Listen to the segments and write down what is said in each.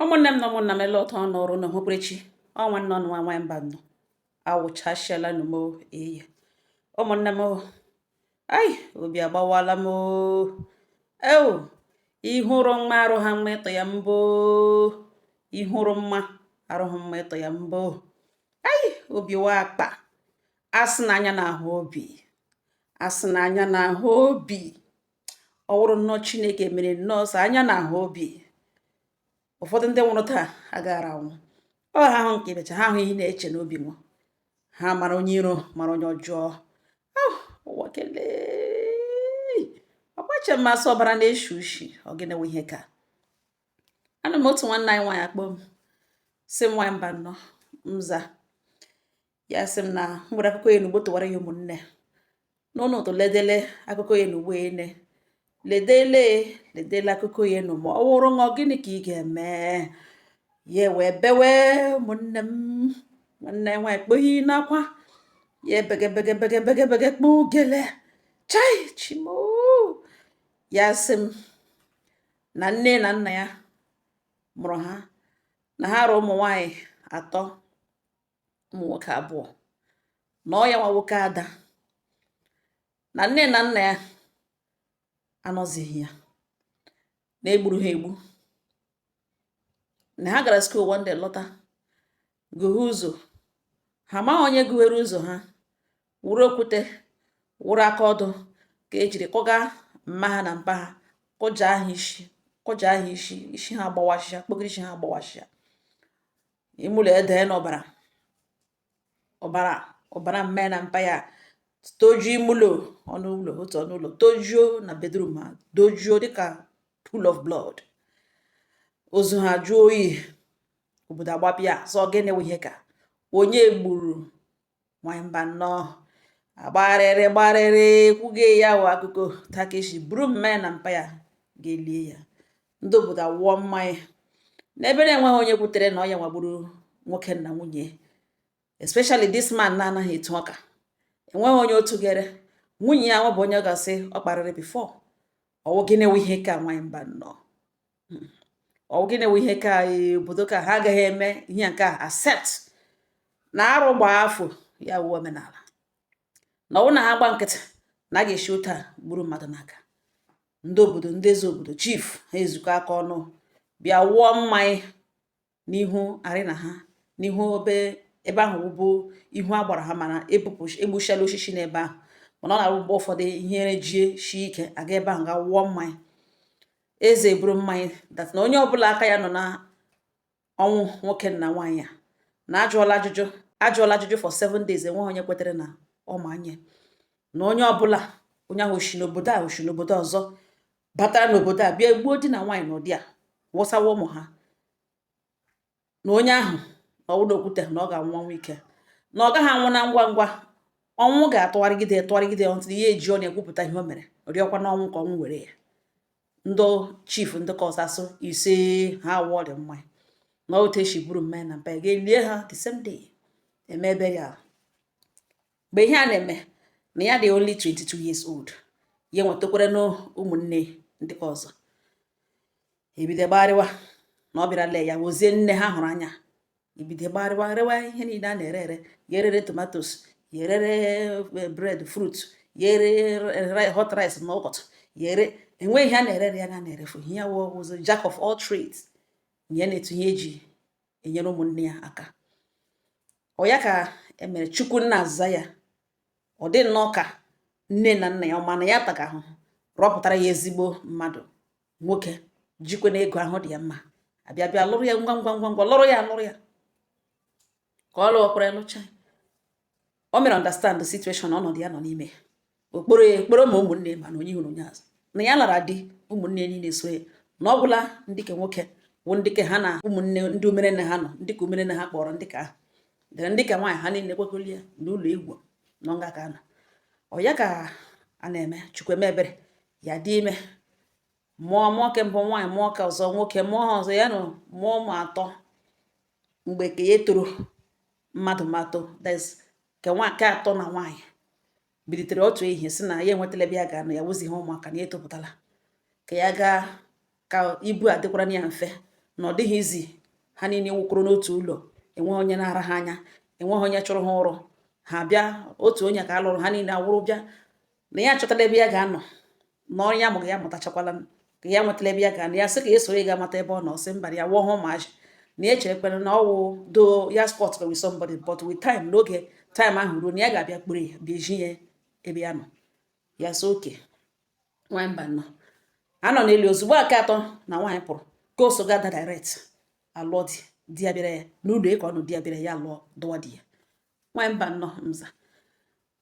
ụmụnne m na ụmụnna m ele ọtọ ọnụ ọrụ na ohokwerechi ọ nwanne ọnụ nwa nwa mbano awụchasịala nụ m eye ụmụnne m ai obi agbawala m eo ị hụrụ mma arụ ha mma ịtọ ya mbụ ị hụrụ mma arụ ha mma ịtọ ya mbụ ai obi wụ akpa a sị na anya na-ahụ obi a sị na anya na-ahụ obi ọ wụrụ nnọọ chineke mere nnọọ sị anya na-ahụ obi ụfọdụ ndị nwụrụ taa agaghara anwụ ọ ha ahụ nke ibecha ha ahụ ihe na-eche n'obi nwa ha mara onye iro mara onye ọjọọ ah, ụwa kelee ọgbache mmasị ọbara na-eshi ushi ọ gịnị wụ ihe ka anọ m otu nwanne anyị nwaanyị akpọọ m sị nwaanyị mbano m za ya sị m na e nwere akụkọ ya n'ugbo tụwara ya ụmụnne n'ụlọ ụtụ ledele akụkọ ya n'ugbo ene ledele ledele akụkọ ya nụ ma ọ wụrụ gị ọ gịnị ka ị ga-eme ya wee bewe ụmụnne m nwanne nwaanyị kpoghi n'akwa ya ebegebegebegebegebege kpọọ ugele chai chimo ya sị m na nne na nna ya mụrụ ha na ha ra ụmụ nwaanyị atọ ụmụ nwoke abụọ na ọ ya nwa wụ nke ada na nne na nna ya anọzighị ya na egburu ha egbu na ha gara school one day lọta gụghe ụzọ ha amaghị onye gụghere ụzọ ha wụrụ okwute wụrụ aka ọdụ ka ejiri kụga mma ha na mpa ha kụja ha isi kụja ha isi isi ha agbawasịa kpogiri isi ha agbawasịa ime ụlọ edee n'ọbara ọbara ọbara mma ya na mpa ya tojuo ime ụlọ ọnụ ụlọ otu ọnụ ụlọ tojuo na bedroom ha dojuo dịka pool of blood ozu ha jụọ oyi obodo agbapịa sị ọ gịnị wụ ihe ka onye gburu nwanyị mbano agbarịrị gbarịrị kwuge ya wụ akụkọ takeshi buru mma ya na mpa ya ga-elie ya ndị obodo awụọ mmanya n'ebe na-enweghị onye kwutere na ọ ya nwa gburu nwoke na nwunye especially this man na-anaghị etu ọka enweghị onye otu gere nwunye ya nwebụ onye ọ ga-asị ọ kparịrị before ọ wụ gịnị wụ ihe ka nwanyị mbano ọ gịnị wụ ihe ka e, obodo ka ha agaghị eme ihe nke a except na arụ gbaa afọ ya awụọ omenala na ọ wụ na ha gba nkịtị na a ga-esi otu a gburu mmadụ n'aka ndị obodo ndị eze obodo chief ha ezukọ aka ọnụ bịa wụọ mmanya n'ihu arena ha n'ihu obe ebe ahụ bụ ihu agbara ha mana ebupụ egbuchala osisi n'ebe ahụ mana ọ na-abụ mgbe ụfọdụ ihe rejie shie ike a gaa ebe ahụ gaa wụọ mmanya eze eburu mmanya that na onye ọbụla aka ya nọ na ọnwụ nwoke na nwaanyị a na ajụọla ajụjụ ajụọla ajụjụ for seven days enweghị onye kwetere na ọ ma onye na onye ọbụla onye ahụ o shi n'obodo a o shi n'obodo ọzọ batara n'obodo a bịa gbuo di na nwaanyị n'ụdị a wụsawa ụmụ ha na onye ahụ na ọ wụ n'okwute na ọ ga-anwụ ọnwụ ike na ọ gaghị anwụ na ngwa ngwa ọnwụ ga-atụgharịgide tụgharịgide until ya eji ọnụ ekwupụta ihe o mere rịọkwa n'ọnwụ ka ọnwụ were ya ndị chief ndị ke ọzọ asị isee ha awụọ dị mmanya n'otu e si buru mmanya na mpa ga-elie ha the same day eme ebere ala mgbe ihe a na-eme na ya dị only 22 years old ya nwetakwara na ụmụnne ndị ke ọzọ ebido gbarịwa na ọ bịara lee ya wozie nne ha hụrụ anya ebido gbarịwa rewa ihe niile a na-ere ere ya erere tomatoes ya erere eh, bread fruit ya erere hot rice n'ụtụtụ ya ere enweghị ihe a na-ere ya na-erefughị ya wụzị jack of all trades ya na-etu ihe e ji enyere ụmụnne ya aka ọ ya ka e mere chukwu nna azaa ya ọ dị nnọọ ka nne na nna ya ọ ma na ya taga ahụhụ rọpụtara ya ezigbo mmadụ nwoke jikwanụ ego ahụ dị ya mma abịa bịa lụrụ ya ngwa ngwa ngwa ngwa lụrụ ya lụrụ ya ka ọ lụọkwara lụcha o mere understand the situation ọnọdụ ya nọ n'ime ọ kpọrọ ya kpọrọ ma ụmụnne mana onye hụrụ onye a sị na ya lara di ụmụnne niile so ya na ọ gwụla ndị ke nwoke bụ ndị ke ha na ụmụnne ndị umerenne ha nọ ndị ke umerenne ha kpọrọ ndị ke ahụ dere ndị ke nwaanyị ha niile kwekọrọ ya n'ụlọ egwu nọ nga ka a na ọ ya ka a na-eme chukwu eme ebere ya adị ime mụọ mụọ ke mbụ nwaanyị mụọ ke ọzọ nwoke mụọ ke ọzọ ya amụọ ụmụ atọ mgbe ke ya toro mmadụ atọ that's ka nwa nke atọ na nwaanyị bilitere otu ehihie si na ya enwetala ebe ya ga-anọ ya wụzighị ụmụaka na ya etopụtala ka ya gaa ka ibu a dịkwaranụ ya mfe na ọ dịghị easy ha niile wụkọrọ n'otu ụlọ enweghị onye na-ara ha anya enweghị onye chụrụ ha ụrụ ha bịa otu onye ka a lụrụ ha niile awụrụ bịa na ya achọtala ebe ya ga-anọ na ọrụ ya mụrụ ya mụtachakwala ka ya nwetala ebe ya ga-anọ ya sị ka ya soro ya gaa mata ebe ọ nọ sị mba ya awụhụ ụmụazị na ya echerekwere na ọ wụ though ya squat with somebody but with time n'oge time ahụ ruo na ya ga-abịa kpọrọ ya bịa zi ya ebe ya nọ ya sị okay nwa mba nọ anọ n'elu ozugbo ke atọ na nwaanyị pụrụ ka o so gada direct alụọ di di ya bịara ya n'ụlọ ịka ọnụ di ya bịara ya lụọ dụwa di ya nwaanyị mba nnọọ mza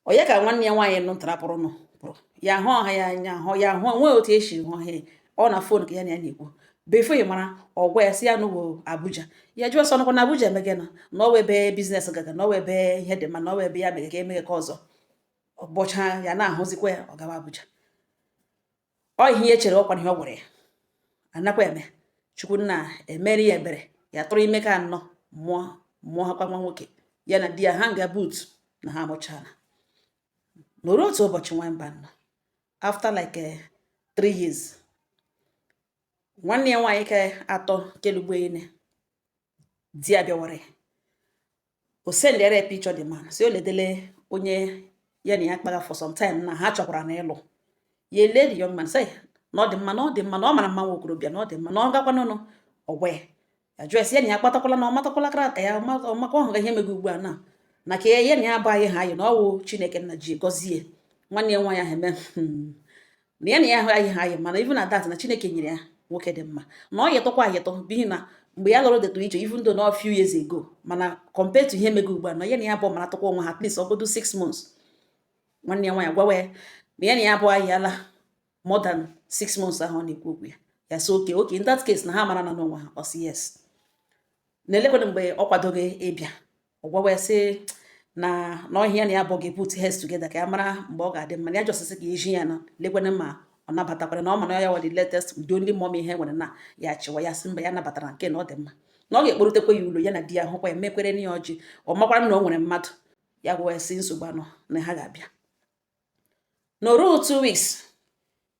onye ka nwanne ya nwaanyị nụ ntarapụrụ nụ pụrụ ya hụ ọha ya anya hụ ya hụ nwee otu esi hụ ha ọ na phone ka ya na ya na-ekwu before ị mara ọ gwa ya sị ya n'ụwa abuja ya jụọ sị ọ nọkwa na abuja emege na na ọ wụ ebe business gaga na ọ wụ ebe ihe dị mma na ọ wụ ebe ya mege ka emege ka ọzọ ọgbọcha ya na-ahụzikwa ya ọ gawa abuja ọ ihe ya chere ọkwa ihe ọ gwara ya a nakwa eme chukwu nna emere ya ebere ya tụrụ ime nke anọ mụọ mụọ ha kwa nwa nwoke ya na di ya ha nga but na ha amụchala nọrọ otu ụbọchị nwa mba nọ after like eh, three years nwanne ya nwaanyị nke atọ kelugbo ine di ya bịawara ya o sendịara ya picture the man sị o ledele onye ya na ya kpara for some time na ha chọkwara na ịlụ ya ele the young man say na ọ dị mma na ọ dị mma na ọ mara mma nwa okorobịa na ọ dị mma na ọ gakwanụnụ ọ gwa ya jụọ ya sị ya na ya kpatakwala na ọ matakwala character ya ọ makwa ọ hụrụ ihe mege ugbu a na na ka ya na ya bụ ayịghị ha ayị na ọ wụ chineke nna ji gọzie nwanne ya nwaanyị ahụ eme hmm. na ya na ya ayịghị ha ayị mana even at that na chineke nyere ya nwoke dị mma na ọ yịtọkwa ayịtọ n'ihi na mgbe ya lụrụ dịtụ iche even though na few years ago mana compared to ihe mege ugbu a na ya na ya bụ maratọkwa onwe ha at least ọ godo six months nwanne ya nwaanyị gwawa ya na ya na ya bụ ayịala more than six months ahụ ọ na-ekwu okwu ya ya sị okay okay in that case na ha marana onwe ha ọ sị yes na lekwana mgbe ọ kwadoga ịbịa ọ gwawa ya sị na na ọ ihe ya na ya bụ ga-put heads together ka ya mara mgbe ọ ga-adị mma na ya just sị ka iji ya na lekwana ma ọ nabatakwara na ọ ma na ya wụ the latest the only mom ihe nwere na ya chịwa ya sị mba ya nabatara nke na ọ dị mma na ọ ga-akpọrutekwa ya ụlọ ya na di ya hụkwa ya mekwaranụ ya ọjị ọ makwara na o nwere mmadụ ya gwa ya sị nsogbu anọ na ha ga-abịa nọrọ two weeks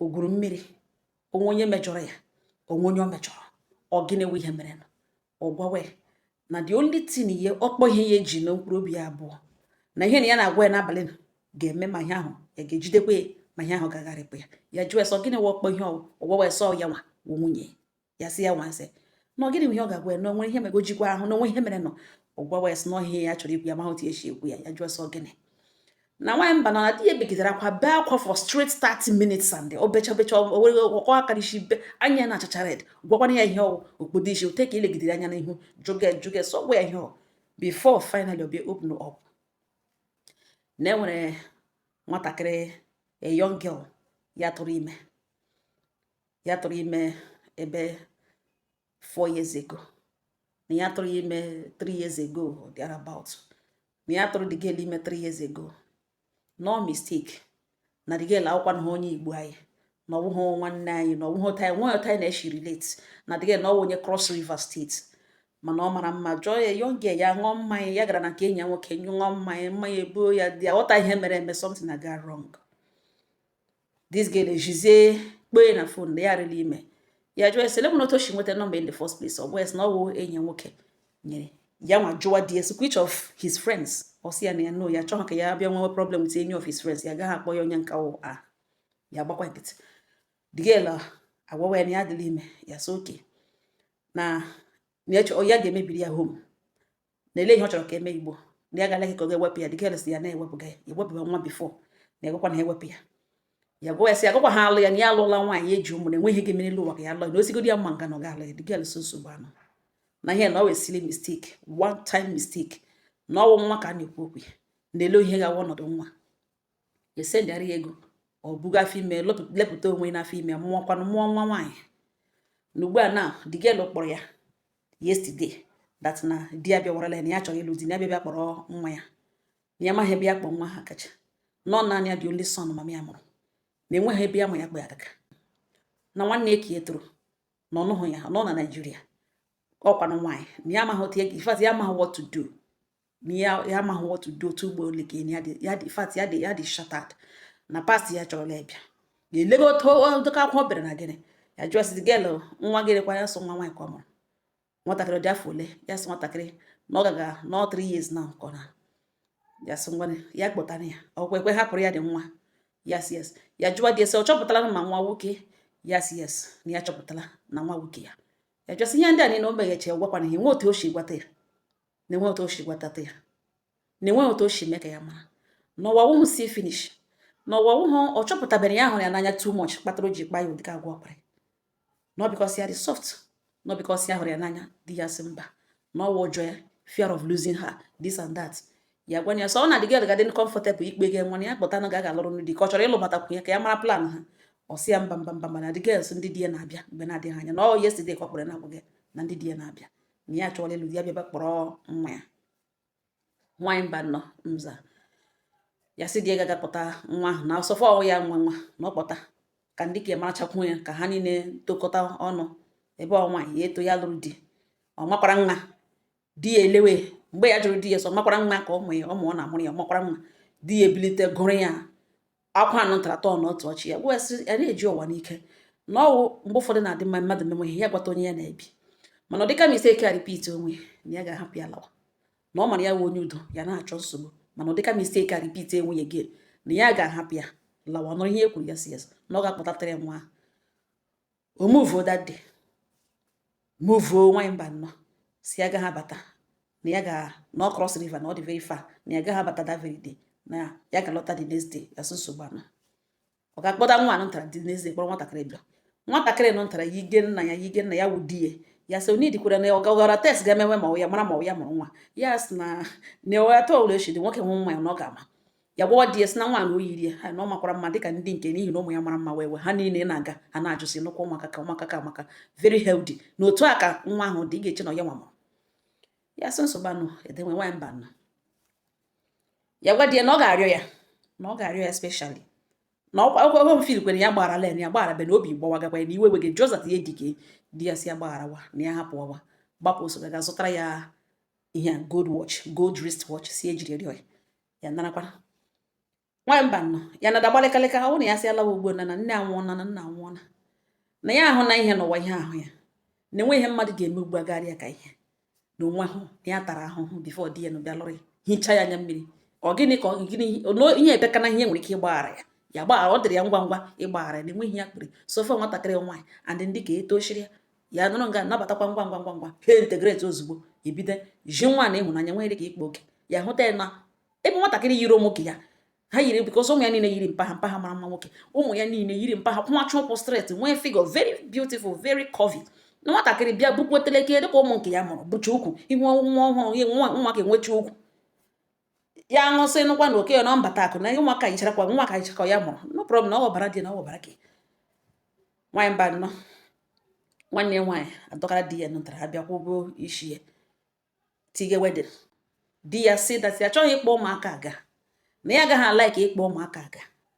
o gwuru mmiri o nwe onye mejọrọ ya o nwe onye ọ mejọrọ ọ gịnị wụ ihe mere ọ gwawa ya na the only thing ihe ọkpọ ihe ya eji mee mkpụrụ obi ya abụọ na ihe na ya na-agwa ya n'abalị ga-eme ma ihe ahụ ya ga-ejidekwa ya ma ihe ahụ ga-agharịpụ ya ya jụọ ya sị ọ gịnị wụ ọkpọ ihe ọ gwawa ya sị ọ ya nwa wụ nwunye ya sị ya nwanse na ọ gịnị ihe ọ ga-agwa ya na o nwere ihe mere o jikwa ahụ na o nwe ihe merenụ ọ gwawa ya sị na ọ ihe ya chọrọ ikwu ya amahụ otu e si ekwu ya ya jụọ sị ọ gịnị na nwaanyị mba na di ya begidere akwa bee akwa for straight 30 minutes and o becha becha were ọkọ aka n'isi be anya na-achacha red gwakwana ya ihe ọ wụ o kpodo isi o tee aka ilegidere anya n'ihu jụge jụge sị ọ gwa ya ihe ọ wụ before finally ọ bịa open up na e nwere nwatakịrị a young girl ya tụrụ ime ya tụrụ ime ebe four years ago na ya tụrụ ya ime three years ago or thereabout na ya tụrụ the girl ime three years ago no mistake na the girl awụkwanụhụ onye igbo anyị na ọwụghị nwanne anyị na ọwụghị otu anyị na-eshi relate na the girl na ọwụ onye cross river state mana ọ mara mma just a young girl ya ṅụọ mmanya ya gara na nke enyi ya nwoke ṅụọ mmanya mmanya ebuo ya dị aghọta ihe mere eme something agaa wrong this girl ejizie kpọọ ya na fon na ya rịla ime ya jụọ ya sị olee otu o si nweta nọmba in the first place ọ bụ ya sị na ọ wụ enyi ya nwoke nyere ya nwa jụwa di ya sị which of his friends ọ sị ya na ya no ya achọghị ka ya bịa nwewe problem with any of his friends ya agaghị akpọ ya onye nke ọ wụ ya gbakwa nkịtị the girl uh, agwawa ya na ya adịla ime ya so okay na ya ga-emebiri ya home na ele ihe ọ chọrọ ka e mee ugbu a na ya gala ka ọ ga-ewepụ ya the girl sị ya na-ewepụga ya ewepụga nwa before na agakwa ha ewepụ ya ya gwa ya sị agakwa ha alụ ya na ya alụla nwaanyị eji ụmụ na enweghị ihe ga-eme n'elu ụwa ka ya alụ ya na osigodi ya mma nga na ọ ga-alụ ya the girl sị nsogbu anọhụ na ihe na ọ wụ silly mistake one time mistake na ọwụ nwa ka a na-ekwu okwu ya na ele ihe ga-awụ ọnọdụ nwa esendịara ya ego o buga afọ ime lepụta onwe n'afọ ime mụọkwanụ mụọ nwa nwaanyị na ugbu a na the girl kpọrọ ya yesterday that na di ya bịawarala ya na ya chọrọ ịlụ di na ya bịa kpọrọ nwa ya na ya amaghị ebe ya kpọ nwa ha gaga na ọ naanị ya dị only son mama ya mụrụ na enweghị ebe ya ma ya kpọ ya gaga na nwanne ya nke ya tọrọ na ọ nọhụ ya nọ na naijiria ọ wụkwanụ nwaanyị na ya amaghị otu ya ife ya amaghị what to do na ya ya amaghị what to do ugbu a olee ka ya dị ya dị in fact ya dị ya dị shattered na past ya achọrọla ya bịa ga-elebe otu dịka akwụkwọ bịara na gịnị ya jụọ sị girl nwa gịnị kwa ya so nwa nwaanyị ka ọ mụrụ nwatakịrị dị afọ ole ya sị nwatakịrị na ọ gaga na ọ three years na nkọ na ya sị ngwa ya kpọtara ya ọkwa ekwe hapụrụ ya dị nwa ya sị yes ya jụọ di ya sị ọ chọpụtala ma nwa wụ nke ya ya sị yes na ya chọpụtala na nwa wụ nke ya ya jụọ sị ihe ndị a niile o meghechi gwakwana ya enwe otu o si gwata ya na-enwe otu o si gwatata ya na-enwe otu o si mee ka ya mara na ọwa wụhụ see finish na ọwa wụhụ ọ chọpụtabu na ya hụrụ ya n'anya too much kpatara o ji kpa ya ụdịka agwa ọ kpara na ọ because ya dị soft na ọ because ya hụrụ ya n'anya di ya sị mba na ọ wụ ụjọ ya fear of losing her this and that ya gwa ya sị ọ na dị gị gadị comfortable ikpe gị nwa ya kpọta na ga-aga lụrụ ndị ka ọ chọrọ ịlụbatakwu ya ka ya mara plan ha ọ sị ya mba mba mba mana the girl sị ndị di ya na-abịa mgbe na-adịghị anya na ọ yesterday ka ọ kpọrọ na-agwa gị na ndị di ya na-abịa na ya chọrọ ịlụ di ya bịaba kpọrọ nwa ya nwaanyị mba nọ nza ya sị di ya gaga kpọta nwa ahụ na so far ọwụ ya nwe nwa na ọ kpọta ka ndị nke ya marachakwu ya ka ha niile tokọta ọnụ ebe ọ nwaanyị ya eto ya lụrụ di ọ makwara nwa di ya elewe mgbe ya jụrụ di ya sị ọ makwara nwa ka ọ mụ ya ọ mụọ na amụrụ ya ọ makwara nwa di ya ebilite gụrụ ya akwa anụ ntaratọ na otu ọchị ya gwasị ya na-eji ụwa n'ike na ọ wụ mgbe ụfọdụ na-adị mma mmadụ mewe ihe ya gwata onye ya na-ebi mana ọ dịka mistake a repeat onwe na ya ga-ahapụ ya lawa na ọ mara ya wụ onye udo ya anaghị achọ nsogbu mana ọ dịka mistake a repeat onwe ya again na ya ga-ahapụ ya lawa nụrụ ihe e kwuru ya sị ya na ọ ga-akpọtatara ya nwa ahụ omuvo that day muvuo nwaanyị mba nnọọ sị ya agaghị abata na ya ga-anọ cross river na ọ dị very far na ya agaghị abata that very day na ya ga-alọta the next day ya sị nsogbu anọ ọ ga-akpọta nwa anụ ntara the next day kpọrọ nwatakịrị bịa nwatakịrị nọ ntara yige nna ya yige nna ya wụ di ya ya sị onye dikwara na ọbara test ga-emewe ma ya mara ma ọ ya mụrụ nwa ya sị na na ọ ya tọọlụ echi dị nwoke hụ nwa ya na ọ ga-ama ya gwawa di ya sị na nwa na o yiri ya ha na ọ makwara mma dịka ndị nke n'ihi na ụmụ ya mara mma well well ha niile na-aga ha na-ajụsi nnukwu ụmụaka ka ụmụaka ka maka very healthy na otu a ka nwa ahụ dị ị ga-eche na ọ ya nwa mụrụ ya sị nsogbu anọ e dewe nwaanyị mba nọ ya gwa di ya na ọ ga-arịọ ya na ọ ga-arịọ ya specially na ọkwa mfil kwere ya gbaghara len ya gbaghara bena obi gbawagakwa ya na iwe wege josat ya dike di ya sị ya gbagharawa na ya hapụwawa gbapụ ọsọ gaa zụtara ya ihe gold watch gold wrist watch sị e jiri rịọ ya ya narakwa nwaanyị mba nọ ya na-ada gbalịkalịka ọ na ya sị alawa ugbu na na nne anwụọna na nna anwụọna na ya ahụna ihe n'ụwa ihe ahụ ya na enweghị ihe mmadụ ga-eme ugbu a karịa ka ihe na onwe ahụ na ya tara ahụhụ before di ya na bịa lụrụ ya hichaa ya anya mmiri ọ gịnị ka gịnị ihe ebeka na ihe nwere ike ịgbaghara ya ya gbaghara ọ dịrị ya ngwa ngwa ịgbaghara ya na enweghị ya kpere so far nwatakịrị nwaanyị andị ndị ka etosiri ya ya nọrọ nga nabatakwa ngwa ngwa ngwa ngwa ha integrate ozugbo ebido ji nwa na ịhụnanya nwere ka ikpe oke ya hụta ya na ebe nwatakịrị yiri ụmụ ya ha yiri because ụmụ ya niile yiri mpa ha mpa ha mara mma nwoke ụmụ ya niile yiri mpa ha kwụmacha ụkwụ straight nwee figure very beautiful very curvy na nwatakịrị bịa bukwa otele ike dịka ụmụ nke ya mụrụ bucha ukwu ị hụ nwa ọhụrụ nwa ka enwecha ukwu ya ṅụsị nụkwa na okenye na ọ mbata akụ na ụmụaka yicharakwa nwa ka yichakwa ọ ya mụrụ no problem na ọ ọbara dị na ọ ọbara gị nwaanyị mba nnọọ nwanne ya nwaanyị adọkara di ya nụtara ha bịa kwụọ ụgwọ isi ya tinye wedding di ya sị that ya achọghị ịkpọ ụmụaka aga na ya agaghị a-like ịkpọ ụmụaka aga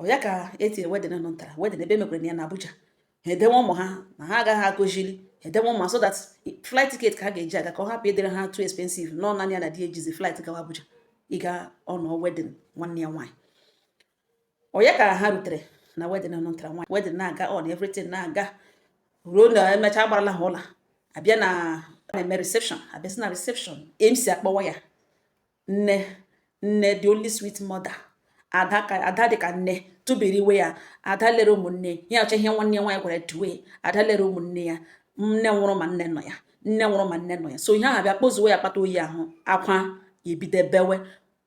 ọ ya ka eti wedding nụ ntara wedding ebe e mekwara ya na Abuja ha edewe ụmụ ha na ha agaghị akpọzili edewe ụmụ ha so that flight ticket ka ha ga-eji aga ka ọ hapụ ịdịrị ha too expensive na ọ naanị ya na di ejizi flight gawa Abuja ịga ịnọ wedding nwanne ya nwaanyị ọ ya ka ha rutere na wedding nụ ntara nwaanyị wedding na-aga on everything na-aga ruo na emechaa agbarala ha ọla abịa na na-eme reception abịasị na reception MC akpọwa ya nne nne the only sweet mother ada dị ka nne tụbiri iwe ya ada lere ụmụnne ya ọcha ihe nwanne ya nwaanyị gwara duwe ada lere ụmụnne ya nne nwụrụ ma nne nọ ya nne nwụrụ ma nne nọ ya so ihe ahụ bịa kpozuwe ya akpata oyi ahụ akwa ebido bewe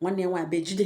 nwanne ya nwaanyị bejide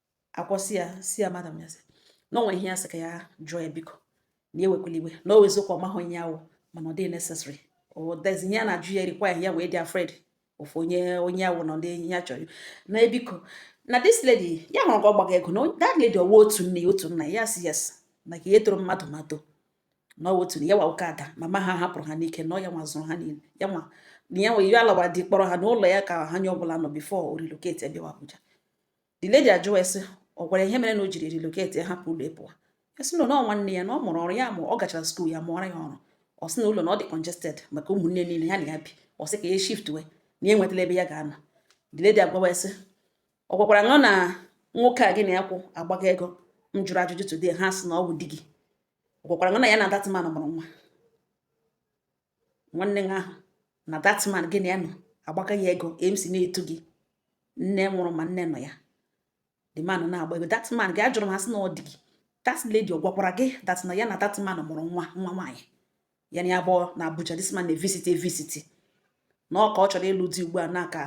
akwụsị ya sị ya madam ya sị na o nwe ihe ya sị ka ya jụọ ya biko na ewekwala iwe na ọ wụ eziokwu ọ mahụ onye ya wụ mana ọ dịghị necessary odezi ihe a na-ajụ ya erequire ya wee dị afraid of onye onye ya wụ na ndị ya chọrọ na ebiko na this lady ya hụrụ ka ọ gbaga ego na that lady ọwa otu nne otu nna ya sị yes na ka ihe toro mmadụ ma too na ọwa otu na ya wụkwa ada mama ha hapụrụ ha n'ike na ọ ya nwa zụrụ ha niile ya nwa na ya nwe ihe alawara di kpọrọ ha n'ụlọ ya ka onye ọbụla nọ before o relocate bịawa Abuja the lady ajụọ ya sị ọ gwara ihe mere na o jiri relocate hapụ ụlọ ị pụwa ya sị na ọ nwanne ya na ọ mụrụ ọrụ ya ma ọ gachara skuul ya mụọra ya ọrụ ọ sị na ụlọ na ọ dị congested maka ụmụnne niile ya na ya bi ọ sị ka ya shift wee na ya enwetala ebe ya ga-anọ the lady agwawa ya sị ọ gwakwaranụ na nwoke a gị na ya kwụ agbaga ego m jụrụ ajụjụ today ha sị na ọ bụ di gị ọ gwakwaranụ na ya na that man mụrụ nwa nwanne gị ahụ na that man gị na ya nọ agbaga ya ego MC na-etu gị nne nwụrụ ma nne nọ ya the man na-agba ego that man gị ajụrụ m ha sị na ọ di gị that lady ọ gwakwara gị that na ya na that man mụrụ nwa nwa nwaanyị ya na ya bi na Abuja this man na-evisit evisit na ọ ka ọ chọrọ ịlụ di ugbu a na ka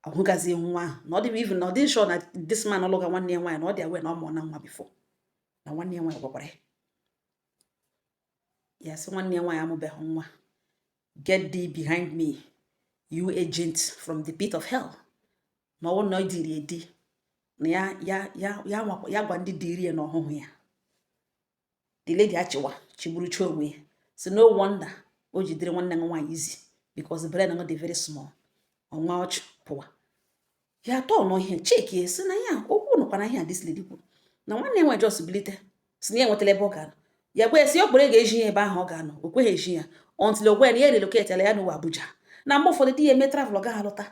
ahụgazi nwa ahụ na ọ dịbụ even na ọ dị sure na this man ọ lụga nwanne ya nwaanyị na ọ dị aware na ọ mụọna nwa before na nwanne ya nwaanyị gwakwara ya ya sị nwanne ya nwaanyị amụbeghị nwa get thee behind me you agent from the pit of hell na ọ wụ na e diri edi na ya ya ya ya ya gwa ndị diri ya na ọ hụhụ ya the lady achịwa chịgburucha onwe ya sị no wonder o jidere nwanne ya nwaanyị easy because the brain dị very small ọnwa ọchị pụwa ya atọ n'ihe checkie sị na ya okwu nọkwa na ihe a this lady kwuru na nwanne ya nwaanyị just bilite sị na ya enwetala ebe ọ ga-anọ ya gwa ya sị ọ kpọrọ ya ga eji ya ebe ahụ ọ ga-anọ o kweghị eji ya until ọ gwa ya na ya relocateala ya nọwa Abuja na mgbe ụfọdụ di ya emee travel ọ gaghị alọta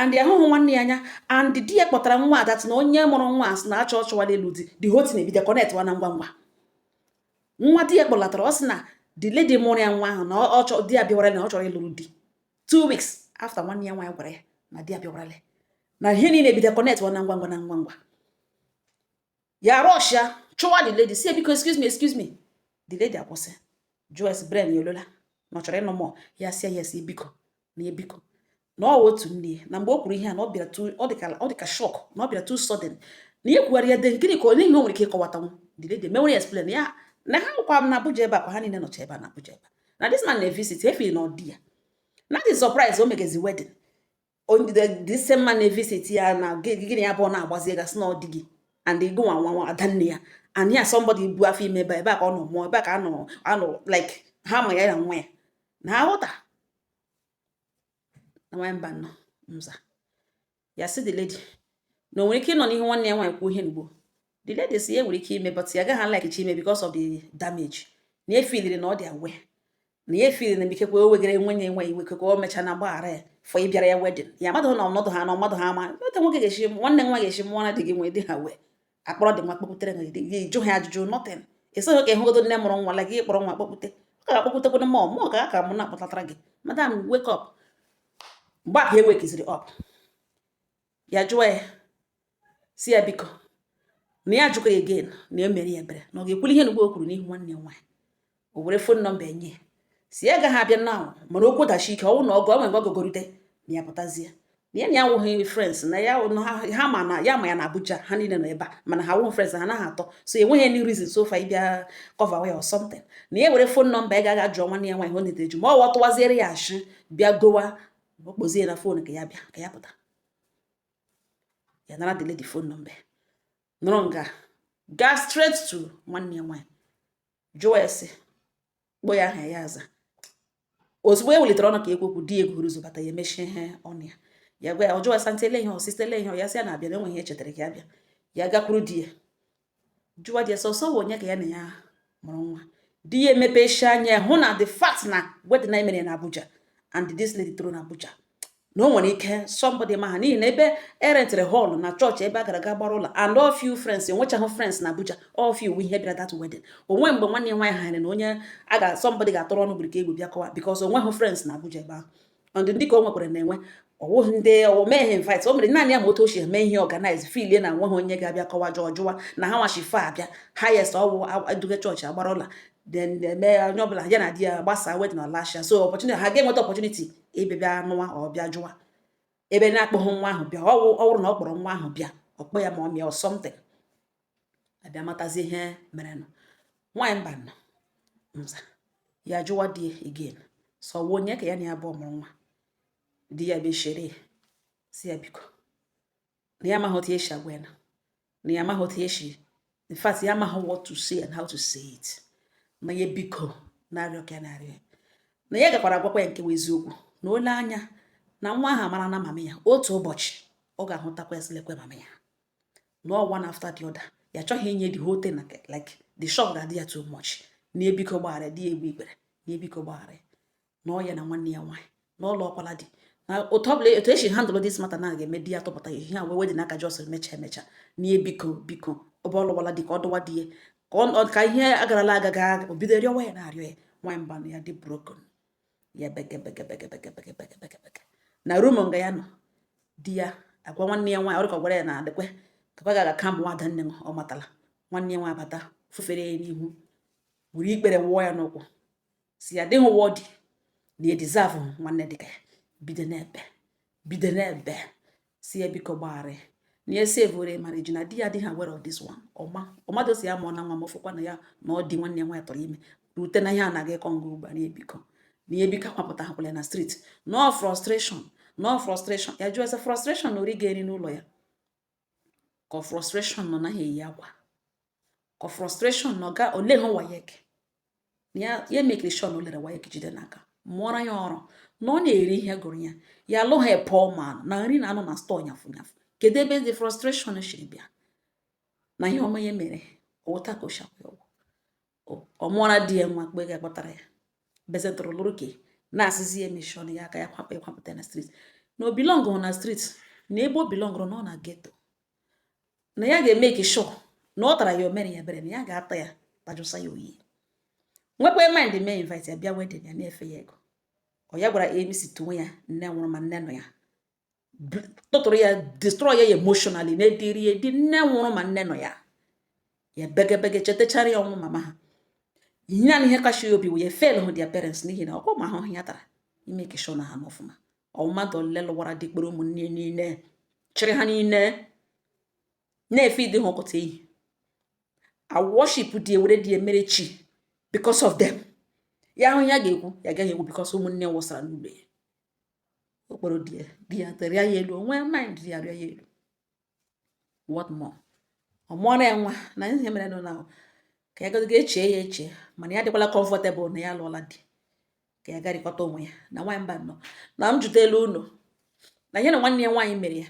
and ya ahụhụ nwanne ya anya and di ya kpọtara nwa a that na onye mụrụ nwa a sị na achọ ọ chọwana ịlụ di the whole thing ebido connectwa na ngwa ngwa nwa di ya kpọlatara ọ sị na the lady mụrụ ya nwa ahụ na ọ chọ di ya bịawara na ọ chọrọ ịlụrụ di two weeks after nwanne ya nwaanyị gwara ya na di ya bịawarale na ihe niile ebido connectwa na ngwa ngwa na ngwa ngwa ya rush ya chụwa the lady sị biko excuse me excuse me the lady akwụsị jụọ ya sị brain ya ọ lọla na ọ chọrọ ịnụ more ya sị yes biko na ebiko na ọ otu nne na mgbe o kwuru ihe a na ọ bịara ọ dịka shock na ọ bịara too sudden na ya kwugharịa de gịnị ka o nwe ihe o nwere ike ịkọwatanwu the lady mewere ya explain ya na ha nọkwa na Abuja ebe a kwa ha niile nọcha ebe a na Abuja ebe a na this man na-evisit freely na ọ dị ya na dị surprise o megezi wedding this same man na-evisit ya na gịnị ya bụ ọ na-agwaziga sị na ọ di gị and ị wụ nwa nwa ada nne ya and ya somebody bu afọ ime ebe ebe a ka ọ nọ mụọ ebe a ka anọ anọ like ha ma ya na nwa ya na ha ghọta na nwanyị mba nọ nza ya sị the lady na o nwere ike ịnọ n'ihu nwanne ya nwaanyị kwuo ihe n'ugbo the lady sị ya nwere ike ime but ya gaghị likechi ime because of the damage na ya efiliri na ọ dị aware na ya efiliri na ikekwe o wegara nwenye nwe iwe ikekwe o mecha na gbaghara ya for ịbịara ya wedding ya mmadụ na ọnọdụ ha na ọmadụ ha ama otu nwoke ga-esi nwanne nwa ga-esi mụọ na di gị nwee dị ha wee a kpọrọ di nwa kpọpụtere gị di gị jụ ha ajụjụ nothing ị sịghị ka ị hụgodu nne mụrụ nwa la gị kpọrọ nwa kpọpụte ọ ka akpọpụtekwado mọ mụ ka aka mụ na-akpọtatara gị madam wake up mgbe a ka o wekiziri up ya jụọ ya sị ya biko na ya ajụkwa ya again na ya meere ya ebere na ọ ga-ekwuli ihe na ugbo o kwuru n'ihu nwanne ya nwaanyị o were phone number nye sị ya gaghị abịa na mana okwu dasie ike ọnwụ na ọgụ ọ nwere ọgọgorute na ya pụtazie na ya na ya awụghị friends na ya ha ma na ya ma ya na Abuja ha niile nọ ebe a mana ha awụghị friends ha naghị atalk so enweghị any reason so far ịbịa cover way or something na ya were phone number ị gaa jụọ nwanne ya nwaanyị ọ na-edeju ma ọ tụwaziere ya ashị bịa gọwa ọ kpọzie na phone ka ya bịa ka ya pụta ya nara the lady phone number nọrọ nga gaa straight to nwanne ya nwaanyị jụọ ese kpọọ ya aha ya aza ozugbo e welitere ọnụ ka e kwuo okwu di egwu ụzọ bata ya emechie ihe ọnụ ya ya gwa ya ọ jụọ esa ntị ele ihe ọsịsa ele ihe ya sị ya na-abịa na enweghị ihe chetara ka ya bịa ya gakwuru di ya jụwa di ya so ọ wụ onye ka ya na ya mụrụ nwa di ya emepesi anya hụ na the fact na wedding na e mere na Abuja and this lady toro na Abuja na o nwere ike somebody ma ha n'ihi na ebe e rentiri hall na chọọchị ebe a gara aga gbara ụlọ and all few friends enwechaghị friends na Abuja all few ihe bịara that wedding o nwe mgbe nwanne ya nwaanyị hanyere na onye a ga somebody ga-atụrụ ọnụ gburu ka egwu bịa kọwa because o nweghị friends na Abuja ebe ahụ and ndị ka o nwekwara na-enwe ọ wụghị ndị ọ wụ mee ha invite o mere naanị ya ma otu o si eme ihe organize filie na nweghị onye ga-abịa kọwa jụọ jụwa na ha nwachi fa abịa highest ọ wụ eduga chọọchị agbara ụla then mee onye ọbụla ya na di ya gbasaa wedding ọ lasha so opportunity ha ga-enweta opportunity ịbịa nụwa ọ bịa jụwa ebe na-akpọghị nwa ahụ bịa ọ wụrụ na ọ kpọrọ nwa ahụ bịa ọ kpọọ ya mummy or something a bịa matazi ihe mere nụ nwaanyị mba nọ nza ya jụwa di again so ọ wụ onye ka ya na ya bụ ọ mụrụ nwa di ya bịa shere sị ya biko na ya amaghị otu e si agwa ya na ya amaghị otu e si in fact ya amaghị what to say and how to say it na ya biko na-arịọ ka ya na-arịọ na ya gakwara agwakwa ya nke eziokwu na o lee anya na nwa ahụ amara na mama ya otu ụbọchị ọ ga-ahụtakwa ya sị lekwa mama ya na ọ one after the other ya chọghị inye the whole thing like the shock ga-adị ya too much na ya biko gbaghara di ya egbuo ikpere na ya biko gbaghara na ọ ya na nwanne ya nwaanyị na ọ lụọkwala di na otu ọbụla otu esi handle this matter na ga-eme di ya tụpụta ya ihe a wee wedị n'aka just mecha emecha n'ihe biko biko ọ bụ ọ lụwala di ka ọ dụwa di ya ka ihe agarala aga ga o bido rịọwa ya na-arịọ ya nwaanyị mba na ya dị broken ya begebegebegebegebegebegebege na room nga ya nọ di ya agwa nwanne ya nwaanyị ọrịka gwara ya na adịkwe kapa ga-aga kambụ nwada nne m ọ matala nwanne ya nwaanyị bata fufere ya n'ihu were ikpere wụọ ya n'ụkwụ sị ya dịghị worthy na edeserve nwanne dịka ya bido na-ebe bido na-ebe sị ya biko gbaghara na ya savere marriage na di ya adịghị aware of this one ọma ọmadụ sị ya ma ọ na nwa m ọfụkwa na ya na ọ dị nwanne ya nwaanyị tụrụ ime rute na ihe anaghị ịkọ ngụ ugbu a na ebiko na ihe biko akwapụta hakwala na street na ọ frustration na ọ frustration ya jụọ ya sị frustration na ori ga-eri n'ụlọ ya ka frustration na ọ naghị eyi akwa ka frustration nọ ga ole ha WAEC ya ya makere sure na o lere WAEC jide n'aka mụọra ya ọrụ na ọ na-eri ihe gụrụ ya ya alụghị poor man na nri na-anọ na store nyafụ nyafụ kedu ebe the frustration siri bịa na ihe ọma ya mere wụ otu a ka o si kwụọ ọ mụọra di ya nwa mgbe ga kpọtara ya bezetụrụ lụrụ ke na-asịzi ya emeshọn ya aka ya kwakpa ịkwapụta na street na ọ belongrụ na street na ebe ọ belongrụ na ọ na ghetto na ya ga-emake sure na ọ tara ya o mere ya ebere na ya ga-ata ya tajụsa ya oyi nwekwa mind mee invite ya bịa wedding ya na-efe ya ego ọ ya gwara MC tuwe ya nne nwụrụ ma nne nọ ya tụtụrụ ya destroy ya emotionally na-ediri edi nne nwụrụ ma nne nọ ya ya begebege chetachara ya ọnwụ mama ha ihe na ihe kacha ya obi wee fail hụ their parents n'ihi na ọkụ ma ahụhụ ya tara ịmake sure na ha nọ ọfụma mmadụ ole lụwara di kpọrọ ụmụnne niile chịrị ha niile na-efeed ha ọkụta ehi a worship di ewere di emere chi because of them ya ahụ ya ga-ekwu ya agaghị ekwu because ụmụnne wụsara n'ụlọ ya ọ kpọrọ di ya di ya terịa ya elu o nwee mind ya rịa ya elu what more ọ mụọrọ ya nwa na ihe mere nụ na ka ya gaziga echee ya echee mana ya dịkwala comfortable na ya lụọla di ka ya garịkọta onwe ya na nwaanyị mba nọ na m jụta elu ụlọ na ihe na nwanne ya nwaanyị mere ya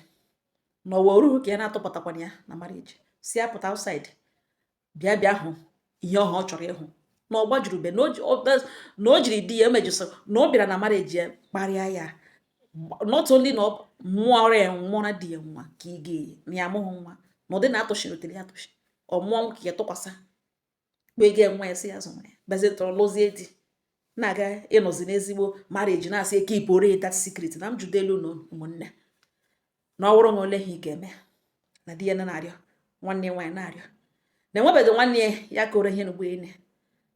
na ọ wa o ruhu ka ya na-atụpụtakwana ya na marriage sị ya pụta outside bịa bịa hụ ihe ahụ ọ chọrọ ịhụ na ọ gbajuru be na o jiri di ya eme jest na ọ bịara na marriage ya kparịa ya not only na ọ mụọra ya mụọra di ya nwa ka ị ga-eyi na ya amụghị nwa na ụdị na-atụchiri o tere ya atụchi ọ mụọ ka ya tụkwasị kpee gị nwa ya sị ya zụwa ya bazie tọrọ lụzie di na-aga ịnọzi n'ezigbo marriage na-asị keepụrụ that secret na m jụdelu unu ụmụnne na ọ wụrụ na olee ihe ị ga-eme na di ya na-arịọ nwanne nwaanyị na-arịọ na enwebeghị nwanne ya kọrọ ihe n'ugbo ene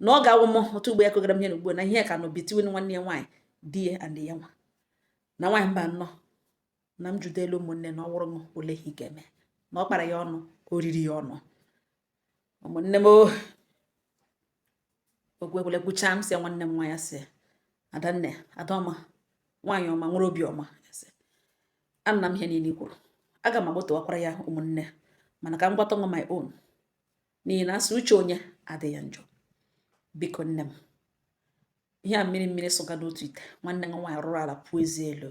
na ọ ga-awụ m otu ugbo ya kọgara m ihe n'ugbo na ihe ka nọ between nwanne ya nwaanyị di ya and ya nwa na nwaanyị mba nnọ na m jụdelu ụmụnne na ọ wụrụ m olee ihe ị ga-eme na ọ kpara ya ọnụ o riri ya ọnụ ụmụnne m oh. okwu ekwele kwuchaa m sị ya nwanne m nwaanyị sị adanne adaọma nwaanyị ọma nwere obi ọma anụna m ihe niile i kwuru aga m agbụtụwakwara ya ụmụnne mana ka m gwata nwa my own n'ihi na a sị uche onye adịghị ya njọ biko nne m ihe a mmiri mmiri sụga n'otu ite nwanne nwa nwaanyị rụrụ ala puo eze elu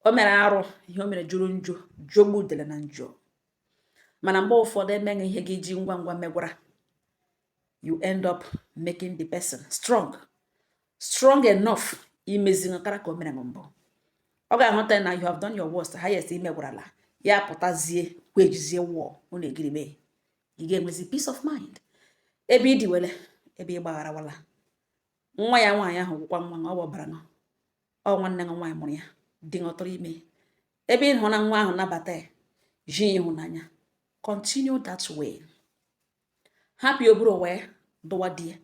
o mere arụ ihe o mere jọrọ njọ jọgbuo udele na njọ mana mgbe ụfọdụ e mee gị ihe gị ji ngwa ngwa megwara you end up making the person strong strong enough imezi nkara ka o mere mbụ ọ ga-ahụta na you have done your worst highest i megwarala ya pụtazie kwejizie wụọ unu egiri mee ị ga-enwezi peace of mind ebe i diwele ebe ị gbagharawala nwa ya nwaanyị ahụ wụkwa nwa na ọ gbabara nọ ọ nwanne gị nwaanyị mụrụ ya di ṅụ tụrụ ime ebe ị hụ na nwa ahụ nabata ya ji ịhụnanya continue that way hapụ ya o buru wee dụwa di ya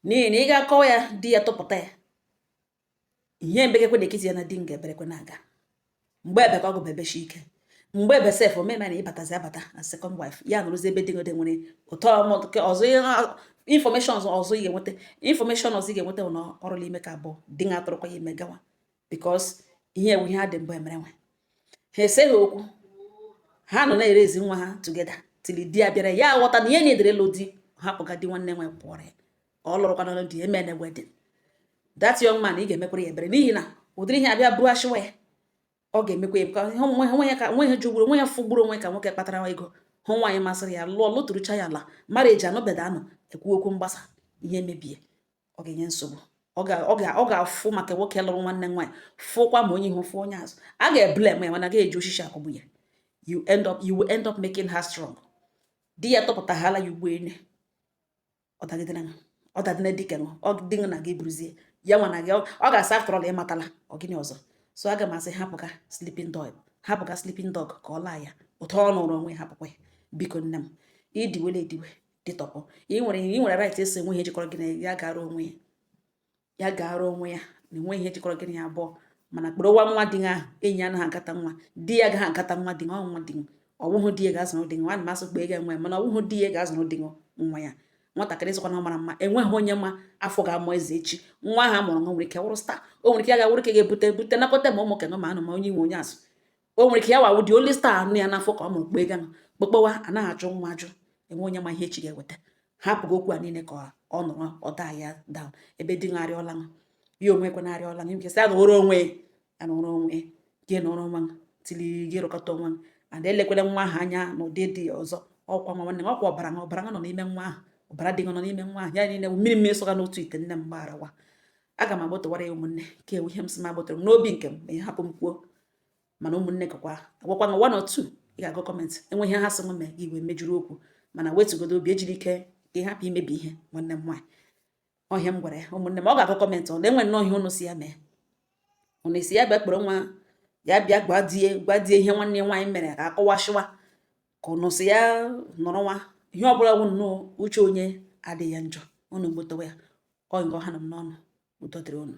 n'ihi na ị ga-akọwa ya di ya tụpụta ya ihe mbegekwe na-ekiti ya na di m ga-eberekwe na-aga mgbe ebe ka ọ gụba ebechi ike mgbe ebe sef omeme na ịbatazi abata na second wife ya nụrụzi ebe dịgode nwere ụtọ ọzọ information ọzọ ị ga-enweta information ọzọ ị ga-enweta na ọrụla ime nke abụọ di ṅụ atụrụkwa ya ime gawa because ihe a wụ ihe ha dị mbụ emere onwe ha eseghị okwu ha nọ na-erezi nwa ha together tili di ya bịara ya aghọta na ihe na-edere lụ di hapụga di nwanne nwe pụọrọ ya ka ọ lụrụkwa n'ọlụ di emene wedding that young man ị ga-emekwara ya ebere n'ihi na ụdịrị ihe a bịa bụrụ ashịwa ya ọ ga-emekwa ya ka nwe ya ka nwe ya jụgburu onwe ya fụgburu onwe ka nwoke kpatara ego hụ nwaanyị masịrị ya lụọ lụtụrụcha ya ala marriage anọbeda anọ ekwu okwu mgbasa ihe mebie ọ ga-enye nsogbu ọ ga-afụ maka nwoke lụrụ nwanne nwaanyị fụkwa ma onye ihu fụ onye azụ a ga-eblem ya mana ga-eji osisi akụgbu ya you end up you will end up making her strong di ya tụpụtaghala ya ugbo ene ọ dagidere ṅa ọ dadịna di ke ṅụ ọ di ṅụ na gị buruzie ya nwanne gị ọ ga-asị after all ị matala ọ gịnị ọzọ so aga m asị hapụga sleeping dog hapụga sleeping dog ka ọ laa ya ụtọ ọ nụrụ onwe hapụkwa ya biko nne m i diwele ediwe dịtọpụ i nwere i nwere right ịsị enwe ihe jikọrọ gị na ya gara onwe ya ya gaara onwe ya na enweghị ihe jikọrọ gị na ya abụọ mana kpọrọ nwa nwa di ahụ enyi anaghị agata nwa di ya gaghị agata nwa di nwa nwa di ọ wụhụ di ya ga-azụrụ di nwa ma asị kpa ego enwe mana ọ wụhụ di ya ga-azụrụ di nwa ya nwatakịrị sịkwa na ọ mara mma enweghị onye ma afọ ga-amụ eze echi nwa ahụ a mụrụ nwa nwere ike wụrụ star o nwere ike ya ga-awụrụ ka ga-ebute bute nakọta ma ụmụ ke ụnụ ma ụnụ ma onye ihu onye azụ o nwere ike ya wa wụ the only star nọ ya n'afọ ka ọ mụrụ kpee ganụ kpokpowa anaghị ajụ nwa ajụ enweghị onye ma ihe echi ga-eweta hapụgo okwu a niile ka ọ nọrọ ọda ya down ebe di nwa arịọla nwa ya onwe kwe na-arịọla nwa nke sị ya nọrọ onwe ya nọrọ onwe gị nọrọ nwa tili gị rụkọta onwe and elekwele nwa ahụ anya na ụdị dị ọzọ ọ kwa nwa nwanne ọ kwa ọbara nwa ọbara nwa nọ n'ime nwa ahụ ọbara di nọ n'ime nwa ahụ ya niile mmiri mmiri sọga n'otu ite nne m gbagharawa aga m agbọtọwara ya ụmụnne ke a wụ ihe m sị m agbọtọrọ m n'obi nke m ma ị hapụ m kwuo mana ụmụnne gakwa agwakwa na one or two ị ga-agụ comment enweghị ihe ha sị mee gị wee mejuru okwu mana wetụgodo obi ejiri ike ka ị hapụ imebi ihe nwanne m nwaanyị ọ ihe a m gwara ya ụmụnne m ọ ga-agụ comment ọ na-enwe nnọọ ihe ụnụ sị ya mee ụnụ asị ya bịa kpọrọ nwa ya bịa gwa di ya gwa di ya ihe nwanne nwaanyị mere ka akọwasịwa ka ụnụ sị ya nọrọ nwa ihe ọ bụla bụ nnọọ uche onye adịghị ya njọ ụnụ gbotowa ya ọ nga ọ ha nọ m n'ọnụ udo dịrị ụnụ